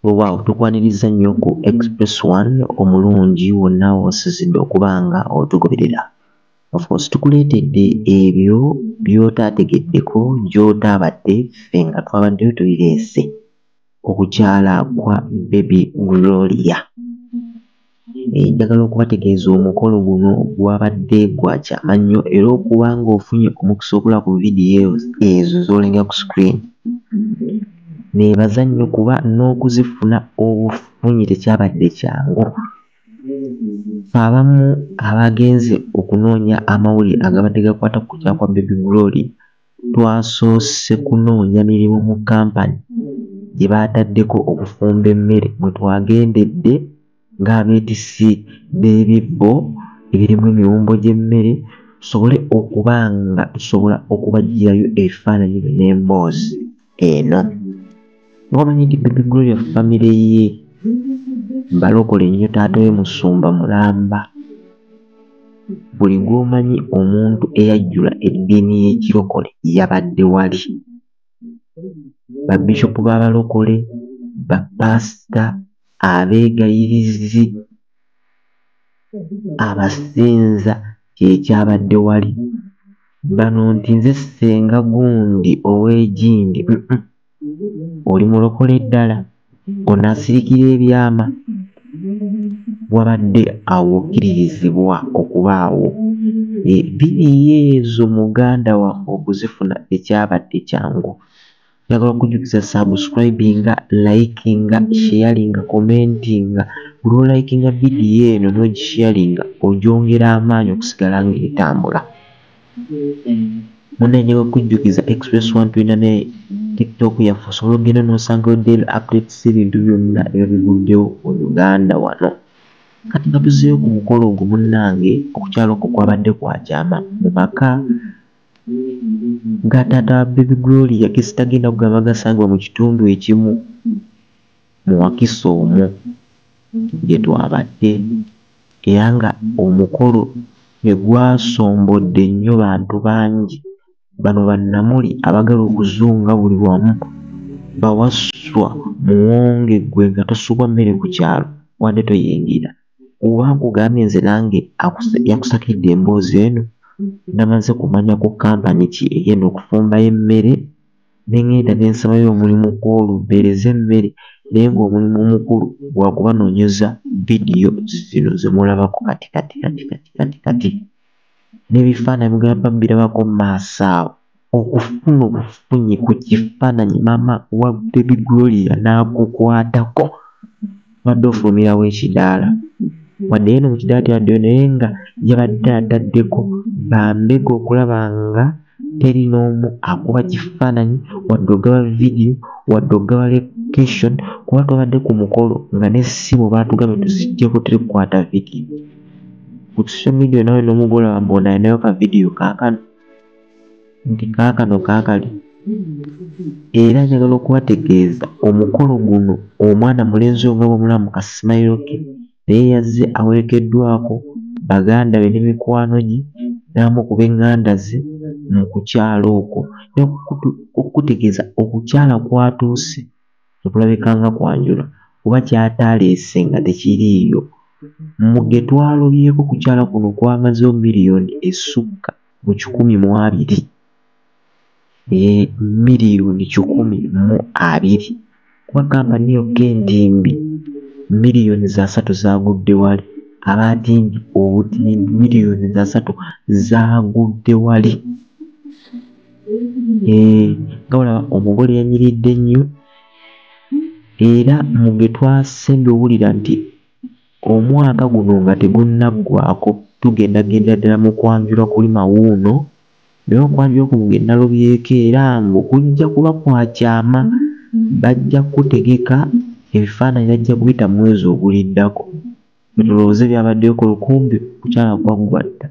Wewaawo tukwaniriza nnyo ku Express One omulungi wonna wosizidde okuba nga otugoberera. Of course tukuleetedde ebyo by'otaategeddeko gy'otaabadde ffe nga twabaddeyo tubireese. Okukyala kwa Baby Gloria. Naye njagala okubategeeza omukolo guno gwabadde gwa kyama nnyo era okuba ng'ofunye omukisa okulaba ku vidiyo ezo z'olengera ku screen neebaza nnyo kuba n'okuzifuna obufunyi tekyabadde kyangu. Ffe abamu abaagenze okunoonya amawulire agabadde gakwata ku kutya kwa Baby Gloria, Twasoose kunoonya mirimu mu kkampani gye baataddeko okufumba emmere mwe twagendedde ng'abeetissi b'ebibbo ebirimu emiwumbo gy'emmere tusobole okuba nga tusobola okubaggyirayo ebifaananyi n'emboozi. eno ngaomanyi nti bibi gloria famire ye balokole nnyo taata we musumba mulamba buli gwomanyi omuntu eyajjula eddiini y'ekirokole yabadde wali babishopu b'abalokole bapaasita abeegayirizi abasinza kyekyabadde wali bano nti nze senga gundi owegindi uhmm oli mulokole ddala ono asirikira ebyama wabadde awo okiririzibwa okubaawo eeh biriyo ezo muganda waffe okuzifuna tekyabadde kyangu. njagala okujjukiza subscribinga likinga sharinga commentinga buli olikinga vidiyo eno nogisharinga ogyongera amaanyi okusigala ngaetambula muna njagala okujjukiza express one tulina ne tiktok yaffe osobola okugenda nosangayo daily updates ebintu byonna ebyo biguddewo mu uganda wano kati nga tuzeeyo ku mukolo ogwo munnange okukyalo okwo kwabadde kwakyama mu maka Ga taata wa baby Gloria gesitagenda kugamba gasangibwa mu kitundu ekimu mu Wakiso omwo gye twabadde era nga omukolo ne gwasombodde nnyo bantu bangi. Bano ba Namuli abagala okuzunga buli wamu ba Wasswa muwonge gwe nga tosubwa mmere ku kyalo wadde toyingira. Oba nkugambye nze nange yakusakidde emboozi eno namaze kumanya ku company ki egenda okufumba emmere nengenda nensabayo omulimu kwolwo mpeereze emmere naye nga omulimu omukulu gwakubanonyeza video zino zemulabako kati kati kati kati kati kati. n'ebifaananyi mugamba mbirabako mu maaso awo okufuna obufunyi ku kifaananyi maama wa Baby Gloria n'akukwatako obadde ofulumirawo ekidaala wadde yeeno mu kidaala tebaddeyo naye nga yabadde ataddeko bambega okulaba nga teri n'omu akuba kifaananyi wadde ogaba vidiyo wadde ogaba location kuba twabadde ku mukolo nga n'essimu baatugambye tuziggyeko terikukwata vidiyo. ku social media nawe nomugole wambe ono alinayo ka vidiyo kakano nti kakano kakali era njagala okubategeeza omukolo guno omwana mulenzi oyo nga bwemulamu ka simayiro ke naye yazze awerekeddwako baganda be ne mikwano gye n'amu ku b'eŋŋanda ze mu kukyala okwo okukutegeeza okukyala kwatuuse Tekulabika nga kwanjula kuba kyataleese nga tekiriiyo. Mu ge twalobyeko kukyala kuno kwamazeewo miriyoni esukka mu kikumi mu abiri. Yee, miriyoni kikumi mu abiri kuba kampani yokka entimbi miriyoni za satu zaagudde wali. Abaatimbi obutimbi miriyoni za satu zaagudde wali. eh, nga olaba omugole yanyiridde nnyo era mu bye twasembi owulira nti omwaka guno nga tegunnaggwako tugenda genda ddala mu kwanjula kulima wuuno naye okwanjula kuno ge nalobyeko era mbu kujja kuba kwa kyama bajja kukutegeka ebifaananyi bajja kuyita mu mwezi oguliddako tulowooze byabaddeyo ku lukumbi kukyala kwaggwa dda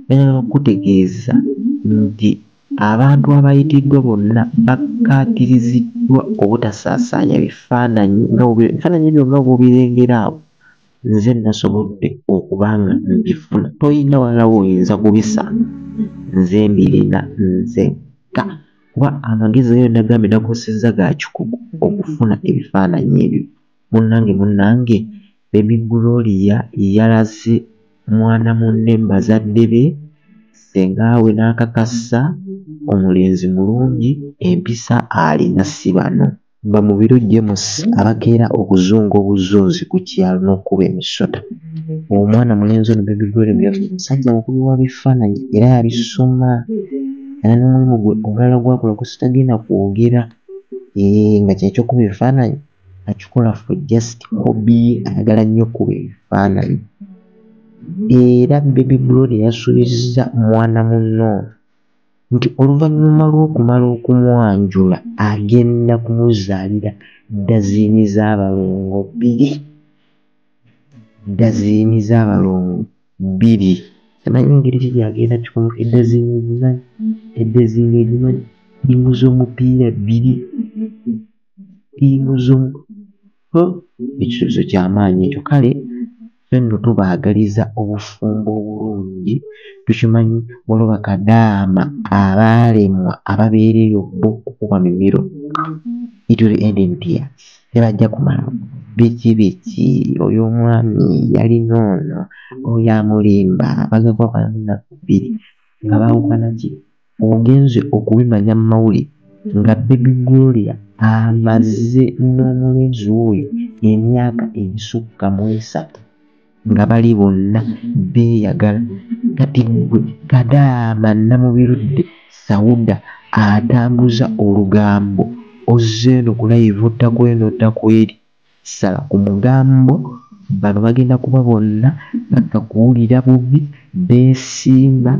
Njagala okukutegeeza nti abantu abayitiddwa bonna bakkaatiriziddwa obutasaasaanya bifaananyi nga bwe birabika. Ebifaananyi byo nga bw'obirengera awo, nze nnasobodde okuba nga mbifuna. Tolina walala w'oyinza kubisanga, nze mbirina nzekka kuba amagezi ge nagambye nakozesezza ga kikugu okufuna ebifaananyi ebyo. Munange munange baby Gloria yalaze mwana munne mubazadde be senga we nakakassa omulenzi mulungi empisa alina sibano. Bamubiro James abakeera okuzunga obuzunzi kukyalo nokukuba emisota. Omwana mulenzi ono baby Gloria gwe yafunye musajja mukubi wa bifananyi era yabisoma era nomulimu gwe omulala gwakola gwesitagenda kwogera eeh nga kyekyo kukuba ebifananyi. akikola for just hobby ayagala nnyo okukuba ebifaananyi era baby brod yasuubizza mwana munno nti oluvannyuma lw'okumala okumwanjula agenda kumuzaalira ddaziini z'abalongo bbiri ddaziini z'abalongo bbiri tamanyi ngeri ki gyagenda kikomo eddaziini ezimanyi eddaziini ezimanyi ttiimu z'omupiira bbiri imuzumu ho ekisuubizo kyamaanyi ekyo kale fe nno tubaagaliza obufumbo obulungi tukimanyi waliwo bakadaama abaalemwa ababeera eyo bo okukuba mimiro it will end in tears tebajja kumala biki biki oyo omwami yalina ono oyo amulimba bagagwa banna bbiri nga baawukana ki ogenze okubimanya mu mawulire nga Baby Gloria amaze n'omulenzi we emyaka egisukka mu esatu nga bali bonna beeyagala kati ggwe Kadaama Namubirudde Sauda atambuza olugambo ozze eno ku layivu otta kw'eno otta kw'eri Sala ku mugambo, bano bagenda kuba bonna bakka kuwulira bubi, beesiima,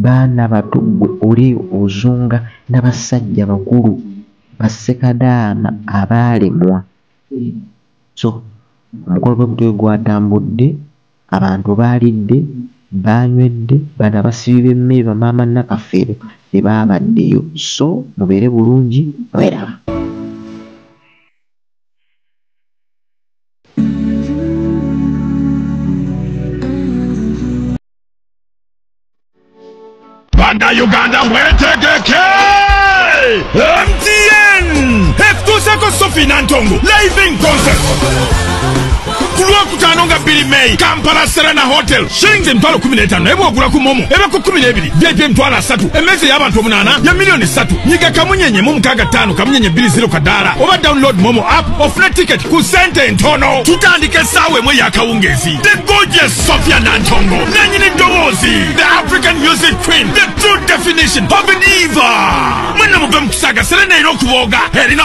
baana bato ggwe oli ozunga na bassajja bakulu, ba ssekadaama abaalemwa. So omukolo bwe gutyo bwe gwatambudde, abantu baalidde, baanywedde, bano abasibi b'emmere ba maama Nakafeero tebaabaddeyo. So mubeere bulungi mweraba. bannayuganda mwetegeke mtn etutuuseko sofi nantongo living concert ku lwokutaano nga bbiri meyi kampala serena hotel shillings emitwalo kumi n'etaano naye bwogula ku momo eba ku kumi n'ebiri vip emitwalo asatu emmeeza ey'abantu omunaana ya miliyoni ssatu nyiga kamunyenye mu mukaaga ttaano kamunyenye bbiri ziro kadaala oba download momo app ofune tiketi ku sente entono tutandika essaawa emu ey'akawungeezi the gorgeous sofia nantongo nanyini ddoboozi the african music queen the true definition of diva mwenna muve mu kusaaga serena erina okubooga erina